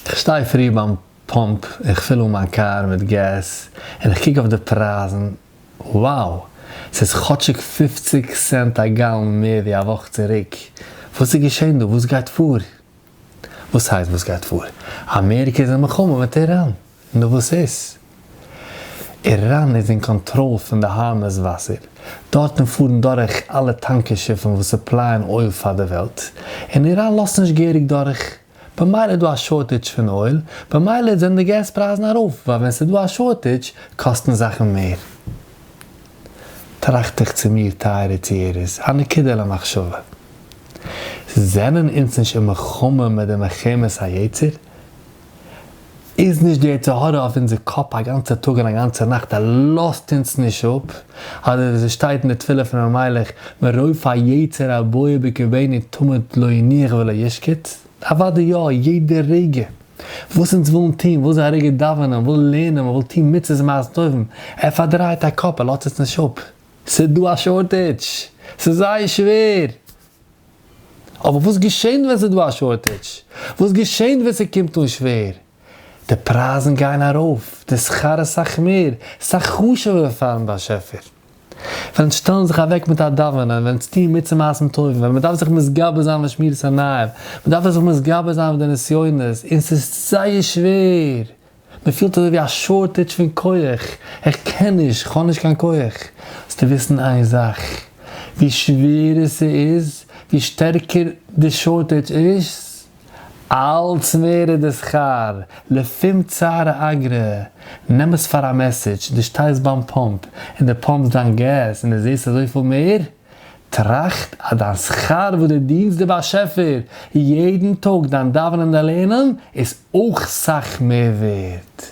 איך שטיי פרי ביים פאמפ איך פיל אן מיין קאר מיט געז און איך קוק אויף די פרייזן, wow ס'איז כאטשיג פֿופֿציק סענט א גאלן מער ווי א וואך צוריק, וואס איז געשען דא? וואס גייט פאר? וואס הייסט וואס גייט פאר? אמעריקע איז אין מלחמה מיט איראן, נו וואס איז? איראן איז אין קאנטראל פון די הארמוז וואסער, דארטן פארן דורך אלע טאנקער שיפן וואס סופלייען אויל פאר די וועלט, און איראן לאזט נישט געהעריג דורך במילא איז דא א שארטעדזש פון אויל, במילא זענען די געז פרייזן ארויף, ווייל ווען ס'איז דא א שארטעדזש קאסטן זאכן מער. טראכט איך צו מיר, טייערע צוהערערס, א נקודה למחשבה. זענען אונז נישט אין מלחמה מיט די מלחמת היצר? איז נישט די יצר הרע אויף אונזער קאפ א גאנצע טאג און א גאנצע נאכט ער לאזט אונז נישט אפ, אדער ווי ס'שטייט אין די תפילה פון ר' מיילעך מרוב היצר הבוער בקרבינו תמיד לא יניח ולא ישקוט, אוודאי יא, יעדע רגע וואס אונז ווילן טון, וויל זיין א רגע דאווענען, וויל לערנען, מ'וויל טון מצוות ומעשים טובים, ער פארדרייט א קאפ, ער לאזט אונז נישט אפ, ס'איז דא א שארטעדזש, ס'איז זייער שווער! אבער וואס געשענט ווען ס'איז דא א שארטעדזש? וואס געשענט ווען ס'קומט אן שווער? די פרייזן גייען ארויף, די שכר איז סאך מער, סאך חשוב'ער פאר'ן באשעפער. ווען אונז שטעלן זיך אוועק מיט א דאווענען, ווען אונז טוען מצוה מעשים טובים, ווען מ'דארף זיך מתגבר זיין ב'שמירת עיניים, מ'דארף זיך מתגבר זיין ב'נסיונות, און ס'איז זייער שווער, מען פילט אזוי ווי א שארטעדזש פון כח, איך קען נישט, איך האב נישט קיין כח. זאלסטו וויסן איין זאך, ווי שווערער ס'איז, ווי שטערקער די שארטעדזש איז, אלץ מער איז די שכר, לפום צערא אגרא. נעם עס פאר א מעסעדזש, דו שטייסט ביים פאמפ, און דו פאמפסט דיין געז, און דו זעסט אזויפיל מער, טראכט אז דיין שכר וואס דו דינטסט די באשעפער יעדן טאג, דיין דאווענען און דיין לערנען, איז אויך סאך מער ווערט.